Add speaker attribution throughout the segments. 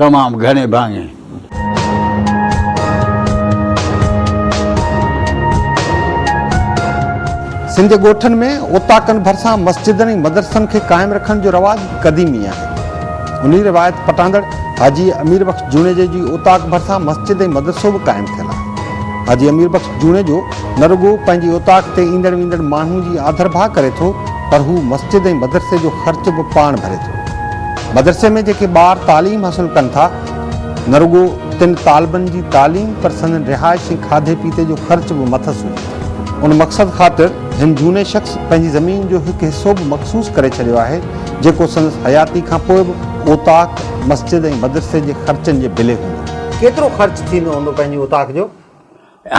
Speaker 1: تمام گهڻي ڀاڱي.
Speaker 2: سنڌ جي ڳوٺن ۾ اوطاقن ڀرسان مسجدن ۽ مدرسن کي قائم رکڻ جو رواج قديمي آهي. انهي روايت پٽاندڙ حاجي امير بخش جوڻيجي جي اوطاق ڀرسان مسجد ۽ مدرسو به قائم ٿيل آهي. حاجي امير بخش جوڻيجو نه رڳو پنهنجي اوطاق تي ايندڙ ويندڙ ماڻهو جي آڌرڀاء ڪري ٿو پر هو مسجد ۽ مدرسي جو خرچ به پاڻ ڀري ٿو. مدرسي ۾ جيڪي ٻار تعليم حاصل ڪن ٿا نه رڳو تن طالبن جي تعليم پر سندن رهائش ۽ کاڌي پيتي جو خرچ به مٿس هجي ٿو. ان مقصد خاطر هن جهوني شخص پنهنجي زمين جو هڪ حصو به مخصوص ڪري ڇڏيو آهي جيڪو سندس حياتي کان پوء به اوطاق، مسجد ۽ مدرسي جي خرچن جي بلي هوندو. ڪيترو خرچ ٿيندو هوندو پنهنجي اوطاق جو؟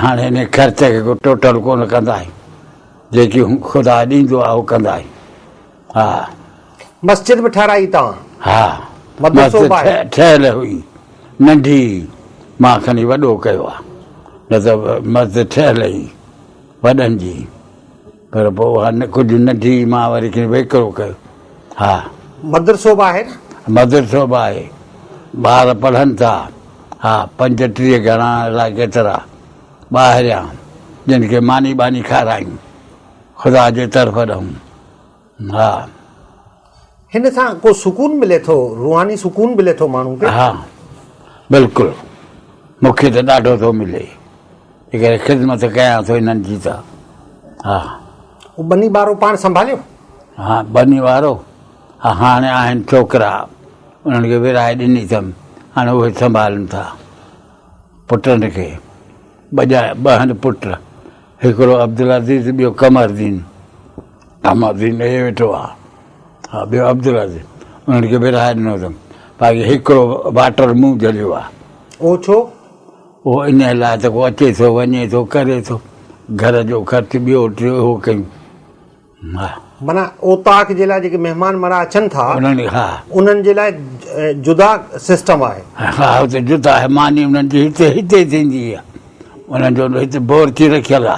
Speaker 2: هاڻ ان
Speaker 1: خرچ کي ڪو ٽوٽل ڪونه ڪندائين جيڪي خدا ڏيندو آهي اهو ڪندائين ها. مسجد
Speaker 2: به ٺهرائي توهان. ها
Speaker 1: مدرسو به
Speaker 2: آهي. ٺهيل هئي
Speaker 1: ننڍي مان کڻي وڏو ڪيو آهي نه ته مسجد ٺهيل هئي وڏن جي. پر پوء اها نه ڪجهه نه ٿي، مان وري کين ويڪرو ڪيو. ها. مدرسو به
Speaker 2: آهي نه؟ مدرسو به آهي.
Speaker 1: ٻار پڙهن ٿا. ها، پنجٽيهه گهڻا الائي ڪيترا ٻاهريان، جن کي ماني ٻاني کارايون، خدا جي طرف ڏانهن. ها.
Speaker 2: هن سان ڪو سڪون ملي ٿو روحاني سڪون ملي ٿو ماڻهو کي. ها
Speaker 1: بلڪل مون کي ته ڏاڍو ٿو ملي ان ڪري خدمت ڪيان ٿو انهن جي ته ها. هو ٻني
Speaker 2: وارو پاڻ سنڀاليو؟ ها ٻني
Speaker 1: وارو ها هاڻي آهن ڇوڪرا انهن کي ورهائي ڏني اٿم هاڻي اهي سنڀالن ٿا پٽن کي ٻه ٻه آهن پٽ هڪڙو عبدالعزيز ٻيو قمر الدين احمد دين ڏيئي ويٺو آ ها ٻيو عبدالعظيم انهن کي ورهائي ڏنو اٿم باقي هڪڙو واٽر مون جهليو آ. اهو ڇو؟
Speaker 2: اهو انهيء لاء ته ڪو
Speaker 1: اچي ٿو وڃي ٿو ڪري ٿو گهر جو خرچ ٻيو ٽيو اهو ڪيون ها. معنيٰ
Speaker 2: اوطاق جي لاء جيڪي مهمان مڙها اچن ٿا انهن کي ها. انهن
Speaker 1: جي لاء
Speaker 2: جدا سسٽم آهي. ها هتي جدا
Speaker 1: آهي ماني انهن جي هتي هتي ٿيندي آ انهن جو هتي بورچي رکيل آ.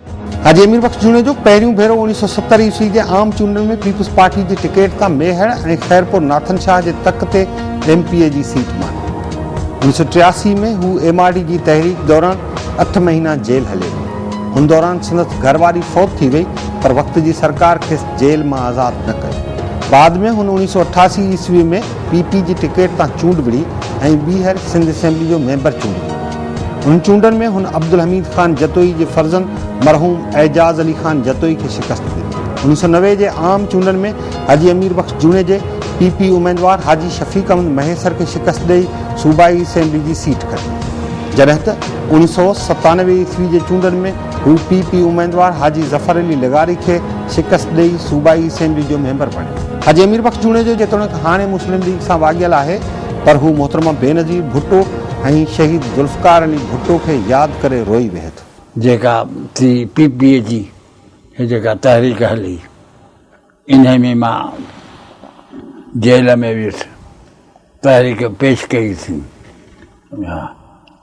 Speaker 2: حاجي امير بخش جوڻيجو پهريون ڀيرو اڻيهه سؤ ستر عيسوي جي عام چونڊن ۾ پيپلز پارٽي جي ٽڪيٽ تان ميهڙ ۽ خيرپور ناٿن شاهه جي تڪ تي ايم پي اي جي سيٽ ماني. انيس سو ٽياسي ۾ هو ايم آر ڊي جي تحريڪ دوران اٺ مهينا جيل هليو ويو. ان دوران سندس گهر واري فوت ٿي وئي پر وقت جي سرڪار کيس جيل مان آزاد نه ڪيو. بعد ۾ هن اڻيهه سؤ اٺاسي عيسوي ۾ پي پي جي ٽڪيٽ تان چونڊ وڙهي ۽ ٻيهر سنڌ اسيمبلي جو ميمبر چونڊجي ويو. انهن چونڊن ۾ هن عبدالحميد خان جتوئي جي فرزند مرحوم اعجاز علي خان جتوئي کي شڪست ڏني. انيس سؤ نوي جي عام چونڊن ۾ حاجي امير بخش جوڻيجي پي پي اميدوار حاجي شفيق احمد مهيسر کي شڪست ڏئي صوبائي اسيمبلي جي سيٽ کٽي جڏهن ته انيس سؤ ستانوي عيسوي جي چونڊن ۾ هو پي پي اميدوار حاجي ظفر علي لغاري کي شڪست ڏئي صوبائي اسيمبلي جو ميمبر بڻيو. حاجي امير بخش جوڻيجو جيتوڻيڪ هاڻي مسلم ليگ سان واڳيل آهي، پر هو محترمه بينظير ڀٽو ۽ شهيد ذوالفقار علي ڀٽو کي ياد ڪري روئي ويهي ٿو. جيڪا ٽي
Speaker 1: پي پي جي هي جيڪا تحريڪ هلي انهي ۾ مان جيل ۾ ويس تحريڪ پيش ڪئي سين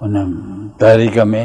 Speaker 1: ان تحريڪ ۾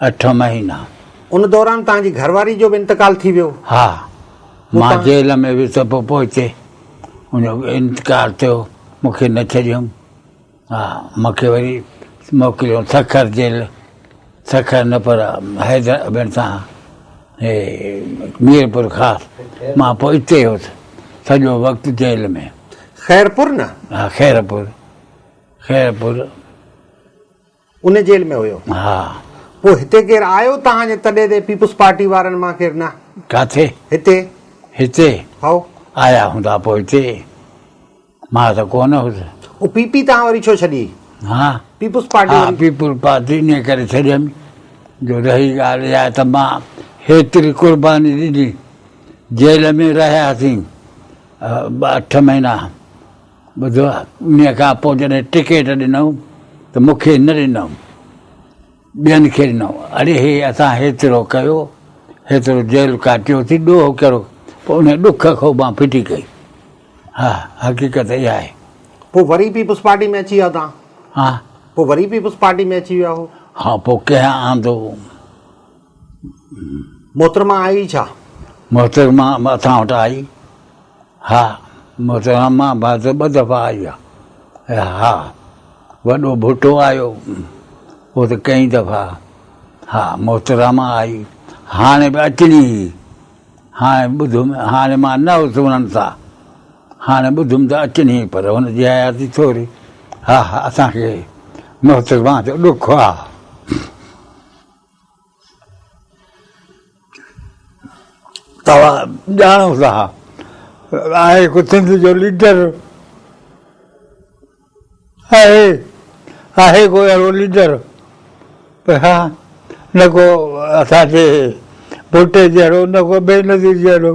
Speaker 1: اٺ مهينا. ان دوران توهان
Speaker 2: جي گهر واري جو به انتقال ٿي ويو؟ ها.
Speaker 1: مان جيل ۾ هيس ته پوء پوئتي ان جو به انتقال ٿيو. مون کي نه ڇڏيائون. ها. مون کي وري موڪليائون سکر جيل. سکر نه پر حيدر ابن سان هي ميرپور خاص. مان پوء اتي هيس سڄو وقت جيل ۾. خيرپور نه؟
Speaker 2: ها خيرپور.
Speaker 1: خيرپور.
Speaker 2: ان جيل ۾ هيو. ها. پوء
Speaker 1: هتي ڪير
Speaker 2: آيو توهان جي تڏي تي پيپلز پارٽي وارن مان ڪير نه. ڪاٿي؟ هتي.
Speaker 1: هتي؟ هائو.
Speaker 2: آيا هوندا پوء
Speaker 1: هتي. مان ته ڪو نه هوس. او پي پي توهان وري
Speaker 2: ڇو ڇڏي؟ ها. پيپلز
Speaker 1: پارٽي ها وري.
Speaker 2: پيپلز پارٽي
Speaker 1: انهي ڪري ڇڏيم جو رهي ڳالهه اها ته مان هيتري قرباني ڏني جيل ۾ رهياسين اٺ مهينا. ٻڌو، ان کان پوء جڏهن ٽڪيٽ ڏنئون ته مون کي نه ڏنئون، ٻين کي ڏنئون. اڙي هي، اسان هيترو ڪيو، هيترو جيل ڪاٽيوسين، ڏوهه ڪهڙو؟ پوء ان ڏک کي مان ڦٽي ڪئي. ها، حقيقت اها آهي. پوء وري
Speaker 2: پيپلز پارٽي ۾ اچي ويا توهان؟ ها. پوء
Speaker 1: وري پيپلز
Speaker 2: پارٽي ۾ اچي ويا هو؟ ها، پوء ڪنهن
Speaker 1: آندو؟
Speaker 2: محترمه آئي ڇا؟ محترمه
Speaker 1: اسان وٽ آئي؟ ها محترمه بهادر ٻه دفعا آئي آ. ها وڏو ڀٽو آيو اهو ته ڪئين دفعا ها محترمه آئي هاڻي به اچڻي هئي هاڻي ٻڌم هاڻي مان نه هوس انهن سان هاڻي ٻڌم ته اچڻي هئي پر هن جي حياتي ٿوري ها اسان کي محترمه جو ڏک آ. توهان ڄاڻو ٿا آء هڪ سنڌ جو ليڊر آهي آهي ڪو اهڙو ليڊر ها نه ڪو اسان جي ڀٽي جهڙو نه ڪو بينظير جهڙو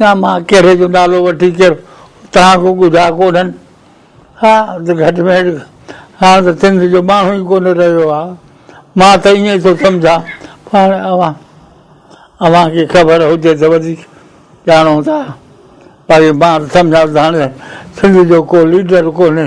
Speaker 1: نه مان ڪهڙي جو نالو وٺي ڪير توهان کي ڳجها ڪونهن ها ته گهٽ ۾ گهٽ هاڻ ته سنڌ جو ماڻهو ئي ڪونه رهيو آهي مان ته ائين ٿو سمجهان پر هاڻي اوهان اوهان کي خبر هجي ته وڌيڪ ڄاڻو ٿا باقي مان ته سمجهان ٿو ته هاڻي سنڌ جو ڪو ليڊر ڪونهي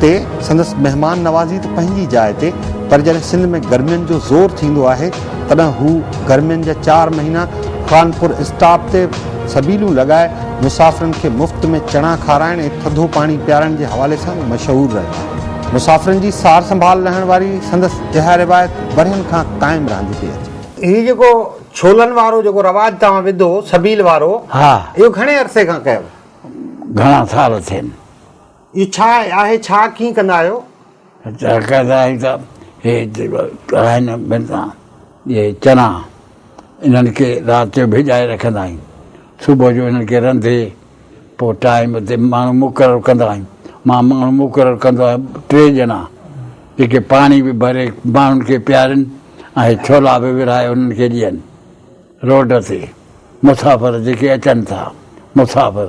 Speaker 2: تي سندس مهمان نوازي ته پنهنجي جاء تي پر جڏهن سنڌ ۾ گرمين جو زور ٿيندو آهي تڏهن هو گرمين جا چار مهينا خانپور اسٽاپ تي سبيلون لڳائي مسافرن کي مفت ۾ چڻا کارائڻ ۽ ٿڌو پاڻي پيارڻ جي حوالي سان مشهور رهيو آهي. مسافرن جي سار سنڀال لهڻ واري سندس اها روايت ورهين کان قائم رهندي پئي اچي. هي جيڪو ڇولن وارو جيڪو رواج توهان وڌو سبيل وارو اهو گهڻي
Speaker 1: عرصي کان
Speaker 2: ڪيو؟ گهڻا
Speaker 1: سال ٿين. اهو ڇا
Speaker 2: آهي ڇا ڪيئن ڪندا آهيو. ڇا ڪندا
Speaker 1: آهيو ته هي آهن بنتا جي چنا انهن کي رات جو ڀيڄائي رکندا آهيون صبح جو انهن کي رنڌي پو ٽائيم تي ماڻهو مقرر ڪندا آهيون مان ماڻهو مقرر ڪندو آهيان ٽي ڄڻا جيڪي پاڻي به ڀري ماڻهن کي پيارين ۽ هي ڇولا به ورهائي انهن کي ڏين روڊ تي مسافر جيڪي اچن ٿا مسافر.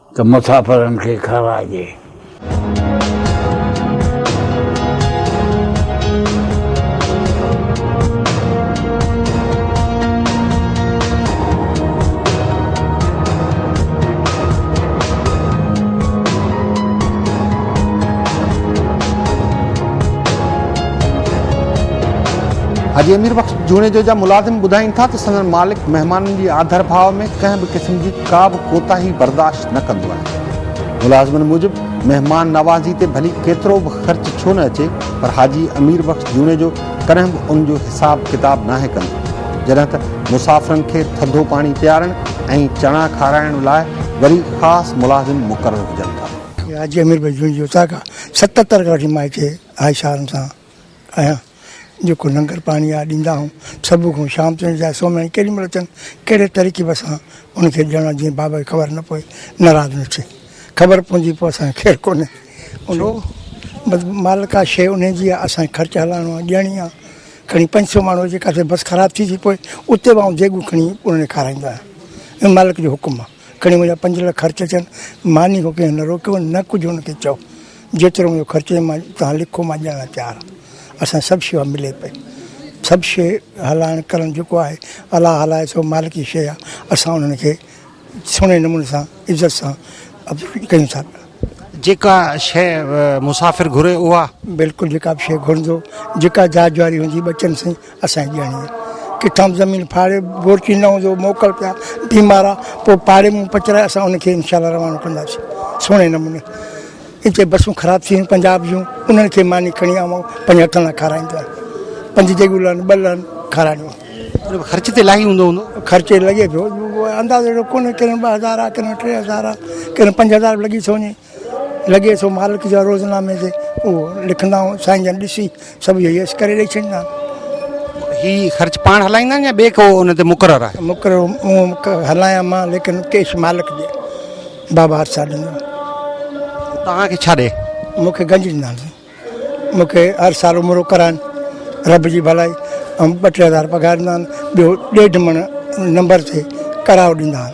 Speaker 1: ته مسافرن کي کاراجي.
Speaker 2: حاجي امير بخش جوڻيجو جا ملازم ٻڌائين ٿا ته سندن مالڪ مهمانن جي آڌر ڀاء ۾ ڪنهن به قسم جي ڪا به ڪوتاهي برداشت نه ڪندو آهي. ملازمن موجب مهمان نوازي تي ڀلي ڪيترو به خرچ ڇو نه اچي پر حاجي امير بخش جوڻيجو ڪڏهن به ان جو حساب ڪتاب ناهي ڪندو. جڏهن ته مسافرن کي ٿڌو پاڻي پيارڻ ۽ چڻا کارائڻ لاء وري خاص ملازم مقرر هجن ٿا. حاجي امير بخش جوڻيجو
Speaker 3: تازا ستتر کان وٺي مائٽي هاء شارن سان آهيان جيڪو لنگر پاڻي آ ڏيندا آهيون صبح کان شام تائين چاهي سومهين ڪيڏي مهل اچن ڪهڙي ترڪيب سان ان کي ڏيڻو جيئن بابا کي خبر نه پوي ناراض نه ٿئي خبر پوندي پوء اسان کي خير ڪونهي ان بس مال ڪا شيء ان جي آ اسان کي خرچ هلائڻو آ ڏيڻي آ کڻي پنج سؤ ماڻهو اچي ڪاٿي بس خراب ٿي ٿي پوء اتي به آئون ديڳون کڻي انهن کي کارائيندو آهيان ۽ مالڪ جو حڪم آ کڻي منهنجا پنج لک خرچ اچن ماني کان ڪنهن نه روڪيو نه ڪجهه ان کي چئو جيترو مون خرچي مان توهان لکو مان ڏيڻ لاء تيار آهيان اسان سڀ شيوا ملي پئي سڀ شي هلائڻ ڪرڻ جيڪو آهي الله هلائي سو مالڪ جي شيء آهي اسان انهن کي سهڻي نموني سان عزت سان ڪيون ٿا پيا. جيڪا
Speaker 2: شيء مسافر گهري اها. بلڪل جيڪا به شيء
Speaker 3: گهرندو جيڪا جاچ جواري هوندي ٻچن سين اسان جي ڄاڻي ڪٿان زمين ڦاڙي بورچي نه هوندو موڪل پيا بيمار آ پو پاڙي مون پچرائي اسان ان کي انشاء الله روانو ڪنداسي سهڻي نموني اتي بسون خراب ٿي پنجاب جون انهن کي ماني کڻي آ پنج هٿن لا کارائيندو پنج جيگو لن ٻه لن کارائيندو خرچ تي لاهي هوندو
Speaker 2: هوندو خرچ لڳي پيو
Speaker 3: اندازو ڪونه ڪن ٻه هزار ڪن ٽي هزار ڪن پنج هزار لڳي ٿو وڃي لڳي ٿو مالڪ جا روزنامي تي اهو لکندا هئا سائين جن ڏسي سڀ اهي يس ڪري ڏئي ڇڏيندا آهن. هي
Speaker 2: خرچ پاڻ هلائيندا آهن يا ٻي ڪو ان تي مقرر آهي؟ مقرر مون
Speaker 3: هلايان مان ليڪن ڪيش مالڪ ڏي بابا هرسا ڏيندو آهي. توهان
Speaker 2: کي ڇا ڏي؟ مون کي گنج ڏيندا آهن
Speaker 3: سائين مون کي هر سال عمرو ڪرائن رب جي ڀلائي ۽ ٻه ٽي هزار پگهار ڏيندا آهن ٻيو ڏيڍ مڻ نمبر تي ڪرايو ڏيندا آهن.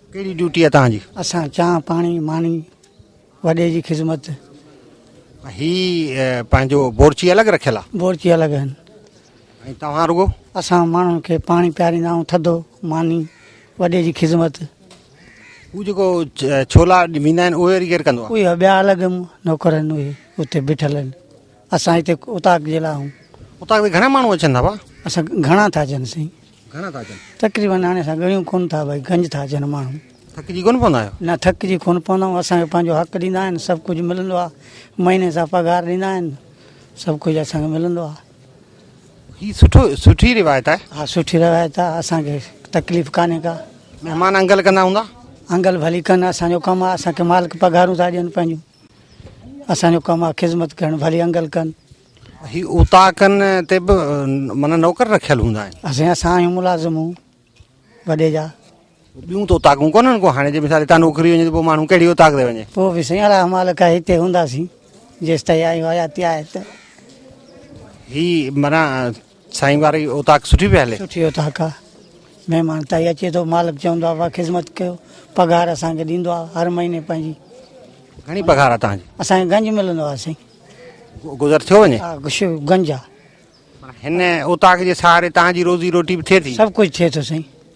Speaker 4: ڪهڙي
Speaker 2: ڊيوٽي آ توهان جي. اسان چانهه پاڻي
Speaker 4: ماني وڏي جي خذمت. هي
Speaker 2: پنهنجو بورچي الڳ رکيل آ. بورچي الڳ آهن. ۽
Speaker 4: توهان
Speaker 2: رڳو. اسان ماڻهن کي
Speaker 4: پاڻي پياريندا آهيون ٿڌو ماني وڏي جي خذمت. هو
Speaker 2: جيڪو ڇولا ويندا آهن اهي ڪير ڪندو آ. اهي ٻيا الڳ
Speaker 4: نوڪر آهن اهي اتي بيٺل آهن اسان هتي اوطاق جي لاء آهيون. اوطاق تي گهڻا ماڻهو
Speaker 2: اچن ٿا ڀا. اسان گهڻا ٿا
Speaker 4: اچن سائين. گهڻا ٿا
Speaker 2: اچن؟ تقريبن هاڻي اسان ڳڻيون
Speaker 4: ڪونه ٿا ڀائي گنج ٿا اچن ماڻهو. ٿڪجي ڪونه پوندا آهيو؟
Speaker 2: نه ٿڪجي ڪونه پوندا
Speaker 4: آهيون اسان کي پنهنجو حق ڏيندا آهن سڀ ڪجهه ملندو آهي مهيني سان پگهار ڏيندا آهن سڀ ڪجهه اسان کي ملندو آهي. هي
Speaker 2: سٺو سٺي روايت آهي. ها سٺي روايت آهي
Speaker 4: اسان کي تڪليف ڪانهي ڪا. مهمان انگل ڪندا
Speaker 2: هوندا؟ انگل ڀلي ڪن
Speaker 4: اسان جو ڪم آهي اسان کي مالڪ پگهارون ٿا ڏين پنهنجون اسان جو ڪم آهي خذمت ڪرڻ ڀلي انگل ڪن. هي
Speaker 2: اوطاقن تي به معنيٰ نوڪر رکيل هوندا آهن. اسين اسان آهيون ملازم هو
Speaker 4: وڏي جا. ٻيون ته
Speaker 2: اوطاقون ڪونهن ڪو هاڻي جي مثال هتان نوڪري وڃي ته پوء ماڻهو ڪهڙي اوطاق تي وڃي. پوء به سائين الله مالڪ
Speaker 4: آهي هتي هونداسين جيستائين آهيون حياتي آهي ته.
Speaker 2: هي معنيٰ سائين واري اوطاق سٺي پئي هلي. سٺي اوطاق آ
Speaker 4: مهمان تائي اچي ٿو مالڪ چوندو آ وا خذمت ڪيو پگهار اسان کي ڏيندو آ هر مهيني پنهنجي. گهڻي
Speaker 2: پگهار آ تهان جي. اسان کي گنج ملندو آ
Speaker 4: سائين. گذر ٿيو وڃي. ها
Speaker 2: گشو گنج آ.
Speaker 4: هن اوطاق
Speaker 2: جي سهاري تهان جي روزي روٽي به ٿئي ٿي. سڀ ڪجهه ٿئي ٿو سائين.